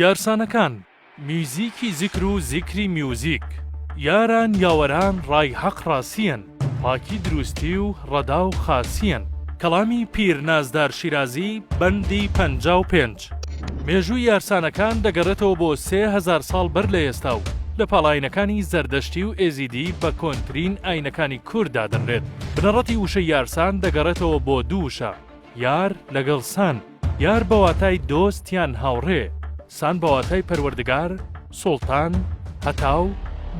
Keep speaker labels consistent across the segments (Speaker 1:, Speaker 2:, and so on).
Speaker 1: یارسانەکان، میوزیکی زیکر و زیکری میوزیک. یاران یاوەران ڕای هەق ڕاسییەن، پاکی دروستی و ڕەدا و خاسییەن. کەڵامی پیر نازدار شیرازی، بەندی پەنجا و پێنج. دەکات. مێژووی یارسانەکان دەگەڕێتەوە بۆ سێ هەزار ساڵ بەر لە ئێستا و لە پاڵ ئاینەکانی زەردەشتی و ئێزیدی بە کۆنترین ئاینەکانی کورد دادەنرێت. بنەڕەتی وشەی یارسان دەگەڕێتەوە بۆ دوو وشە، یار لەگەڵ سان، یار بە واتای دۆست یان هاوڕێ، سان بە واتای پەروەردگار، سوڵتان، هەتاو،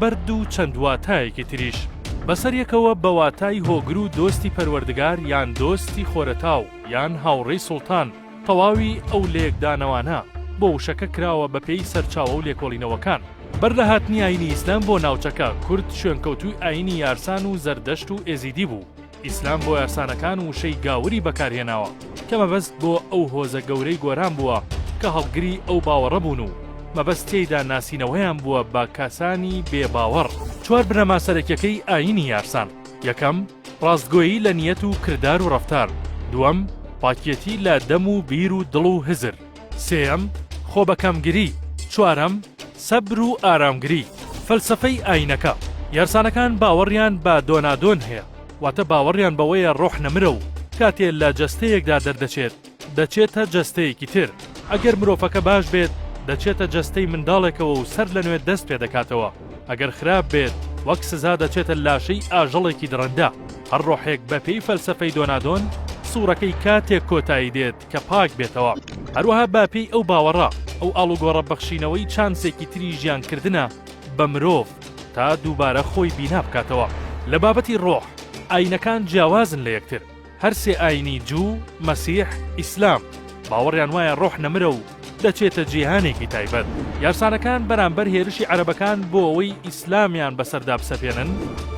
Speaker 1: بەرد و چەند واتایەکی تریش. بەسەریەکەوە بە واتای هۆگر و دۆستی پەروەردگار یان دۆستی خۆرەتاو یان هاوڕێی سوڵتان. تەواوی ئەو لێکدانەوانە بۆ وشەکە کراوە بە پێی سەرچاوە و لێکۆڵینەوەکان. بەر لە هاتنی ئاینی ئیسلام بۆ ناوچەکە، کورد شوێنکەوتووی ئاینی یارسان و زەردەشت و ئێزیدی بوو. ئیسلام بۆ یارسانەکان وشەی گاوری بەکار هێناوە کە مەبەست بۆ ئەو هۆزە گەورەی گۆران بووە کە هەڵگری ئەو باوەڕە بوون و مەبەست تێیدا ناسینەوەیان بووە بە کەسانی بێ باوەڕ. چوار بنەما سەرەکیەکەی ئاینی یارسان، یەکەم، ڕاستگۆیی لە نیەت و کردار و ڕەفتار دووەم، پاکیەتی لە دەم و بیر و دڵ و هزر سێیەم، خۆبەکەمگری چوارەم، سەبر و ئارامگری فەلسەفەی ئاینەکە یارسانەکان باوەڕیان بە دۆنادۆن هەیە واتە باوەڕیان بەوەیە ڕۆح نەمرە و کاتێ لە جەستەیەکدا دەردەچێت، دەچێتە جەستەیەکی تر، ئەگەر مرۆڤەکە باش بێت دەچێتە جەستەی منداڵێکەوە و سەر لە نوێ دەست پێدەکاتەوە، ئەگەر خراپ بێت وەک سزا دەچێتە لاشەی ئاژەڵێکی دڕندە. هەر ڕۆحێک بە پێی فەلسەفەی دۆنادۆن سوڕەکەی کاتێک کۆتایی دێت کە پاک بێتەوە. هەروەها بە پێی ئەو باوەڕە ئەو ئاڵوگۆڕە بەخشینەوەی چانسێکی تری ژیان کردنە بە مرۆڤ تا دووبارە خۆی بینا بکاتەوە. لە بابەتی ڕۆح ئاینەکان جیاوازن لە یەکتر. هەر سێ ئایینی جوو، مەسیح، ئیسلام باوەڕیان وایە ڕۆح نەمرە و دەچێتە جیهانێکی تایبەت. یارسانەکان بەرامبەر هێرشی عەرەبەکان بۆ ئەوەی ئیسلامیان بەسەردا بسەپێنن،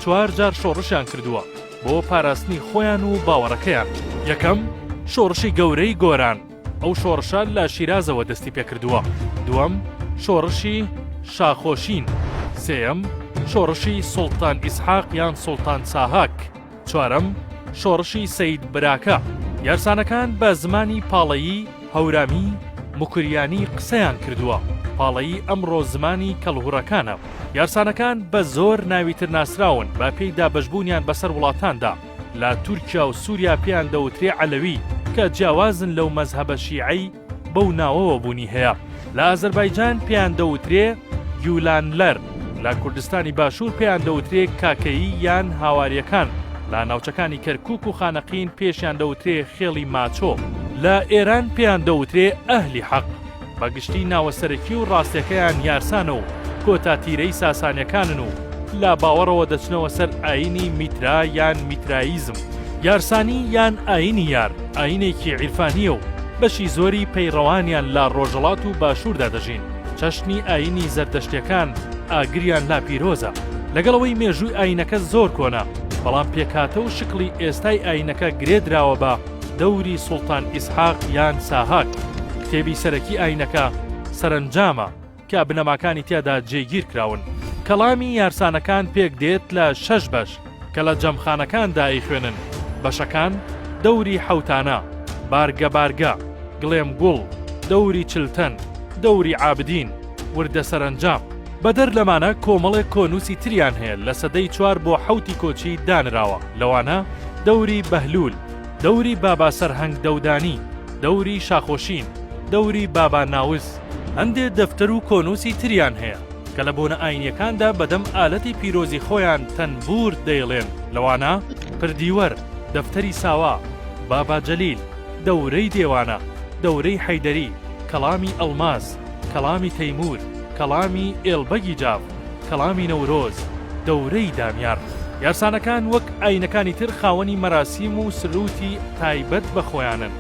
Speaker 1: چوار جار شۆڕشیان کردووە بۆ پاراستنی خۆیان و باوەڕەکەیان. یەکەم، شۆڕشی گەورەی گۆران، ئەو شۆڕشە لە شیرازەوە دەستی پێکردووە. دووەم، شۆڕشی، شاخۆشین. سێیەم، شۆڕشی، سوڵتان ئیسحاق یان سوڵتان ساهاک. چوارەم، شۆڕشی سەید براکە، یارسانەکان بە زمانی پاڵەیی، هەورامی، موکریانی قسەیان کردووە، پاڵەیی ئەمڕۆ زمانی کەڵهوڕەکانە، یارسانەکان بە زۆر ناوی تر ناسراون بە پێی دابەشبوونیان بەسەر وڵاتاندا، لە تورکیا و سووریا پێیان دەوترێ عەلەوی کە جیاوازن لەو مەزهەبە شیعەی، بەو ناوەوە بوونی هەیە، لە ئازەربایجان پێیان دەوترێ گیولانلەر، لە کوردستانی باشوور پێیان دەوترێ کاکەیی یان هاوارییەکان، لە ناوچەکانی کەرکووک و خانەقین پێشیان دەوترێ خێڵی ماچۆ، لە ئێران پێیان دەوترێ ئەهلی حەق، بە گشتی ناوە سەرەکی و ڕاستەکەیان یارسانە و کۆتا تیرەی ساسانییەکانن و لە باوەڕەوە دەچنەوە سەر ئایینی میترا یان میتراییزم، یارسانی یان ئایینی یار. ئایینێکی عیرفانییە و بەشی زۆری پەیڕەوانیان لە ڕۆژەڵات و باشووردا دەژین، چەشنی ئایینی زەردەشتییەکان ئاگریان لا پیرۆزە، لەگەڵ ئەوەی مێژووی ئایینەکە زۆر کۆنە، بەڵام پێکهاتە و شکڵی ئێستای ئایینەکە گرێ دراوە بە دەوری سوڵتان ئیسحاق یان ساهاک، کتێبی سەرەکی ئایینەکە سەرەنجامە. کە بنەماکانی تیادا جێگیر کراون. کەڵامی یارسانەکان پێک دێت لە شەش بەش کە لە جەمخانەکاندا ئەیخوێنن، بەشەکان، دەوری حەوتانە، بارگە بارگە، گڵێم گوڵ، دەوری چلتەن، دەوری عابدین، وردە سەرەنجام. بەدەر لەمانە کۆمەڵێک کۆنووسی تریان هەیە لە سەدەی چوار بۆ حەوتی کۆچی دانراوە، لەوانە، دەوری بەهلوول، دەوری بابا سەرهەنگ دەودانی، دەوری شاخۆشین، دەوری بابا ناوز. هەندێ دەفتەر و کۆنووسی تریان هەیە کە لە بۆنە ئاینیەکاندا بەدەم ئالەتی پیرۆزی خۆیان تەنبوور دەیڵێن، لەوانە، پردیوەر، دەفتەری ساوا، بابا جەلیل، دەورەی دێوانە، دەورەی حەیدەری، کەڵامی ئەڵماس، کەڵامی تەیموور، کەڵامی ئێڵ بەگی جاف، کەڵامی نەورۆز، دەورەی دامیار. یارسانەکان وەک ئاینەکانی تر خاوەنی مەراسیم و سرووتی تایبەت بە خۆیانن،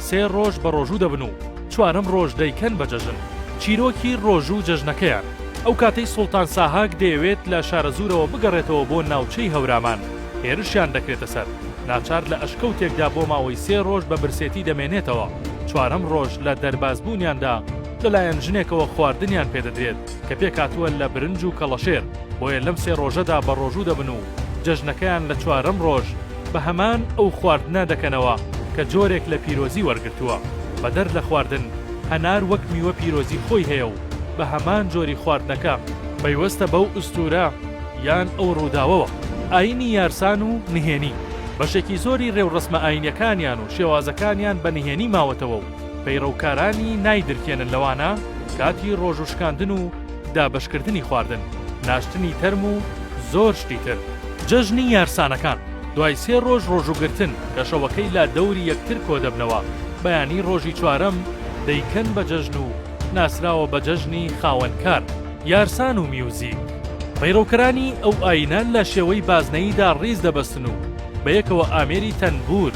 Speaker 1: سێ ڕۆژ بەڕۆژوو دەبن و، چوارەم ڕۆژ دەیکەن بە جەژن. چیرۆکی ڕۆژ و جەژنەکەیان، ئەو کاتەی سوڵتان ساهاک دەیەوێت لە شارەزوورەوە بگەڕێتەوە بۆ ناوچەی هەورامان، هێرشیان دەکرێتە سەر، ناچار لە ئەشکەوتێکدا بۆ ماوەی سێ ڕۆژ بە برسێتی دەمێنێتەوە، چوارەم ڕۆژ لە دەربازبوونیاندا، لەلایەن ژنێکەوە خواردنیان پێدەدرێت کە پێکهاتووە لە برنج و کەڵەشێر، بۆیە لەم سێ ڕۆژەدا بەڕۆژوو دەبن و جەژنەکەیان لە چوارەم ڕۆژ بە هەمان ئەو خواردنە دەکەنەوە کە جۆرێک لە پیرۆزی وەرگرتووە، بەدەر لە خواردن، هەنار وەک میوە پیرۆزی خۆی هەیە و بە هەمان جۆری خواردنەکە، پەیوەستە بەو ئوستوورە یان ئەو ڕووداوەوە، ئایینی یارسان و نهێنی، بەشێکی زۆری ڕێوڕەسمە ئایینیەکانیان و شێوازەکانیان بە نهێنی ماوەتەوە و پەیڕەوکارانی نایدرکێنن لەوانە کاتی ڕۆژوو شکاندن و دابەشکردنی خواردن، ناشتنی تەرم و زۆر شتی تر. جەژنی یارسانەکان، دوای سێ ڕۆژ ڕۆژووگرتن کە شەوەکەی لا دەوری یەکتر کۆدەبنەوە، بەیانی ڕۆژی چوارەم دەیکەن بە جەژن و ناسراوە بە جەژنی خاوەنکار، یارسان و میوزیک. پەیڕەوکەرانی ئەو ئایینە لە شێوەی بازنەییدا ڕیز دەبەستن و بەیەکەوە ئامێری تەنبوور،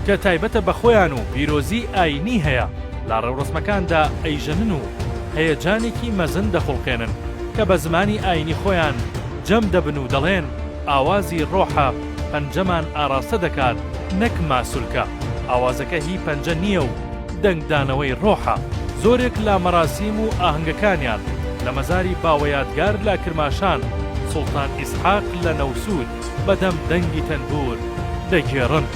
Speaker 1: کە تایبەتە بە خۆیان و پیرۆزیی ئایینی هەیە، لە ڕێوڕەسمەکاندا ئەیژەنن و هەیەجانێکی مەزن دەخوڵقێنن، کە بە زمانی ئایینی خۆیان جەم دەبن و دەڵێن، ئاوازی ڕۆحە پەنجەمان ئاڕاستە دەکات نەک ماسولکە، ئاوازەکە هی پەنجە نییە و دەنگدانەوەی ڕۆحە. زۆرێک لە مەراسیم و ئاهەنگەکانیان لە مەزاری باوە یادگار لە کرماشان، سوڵتان ئیسحاق لە نەوسوود، بە دەم دەنگی تەنبوور دەگێڕن.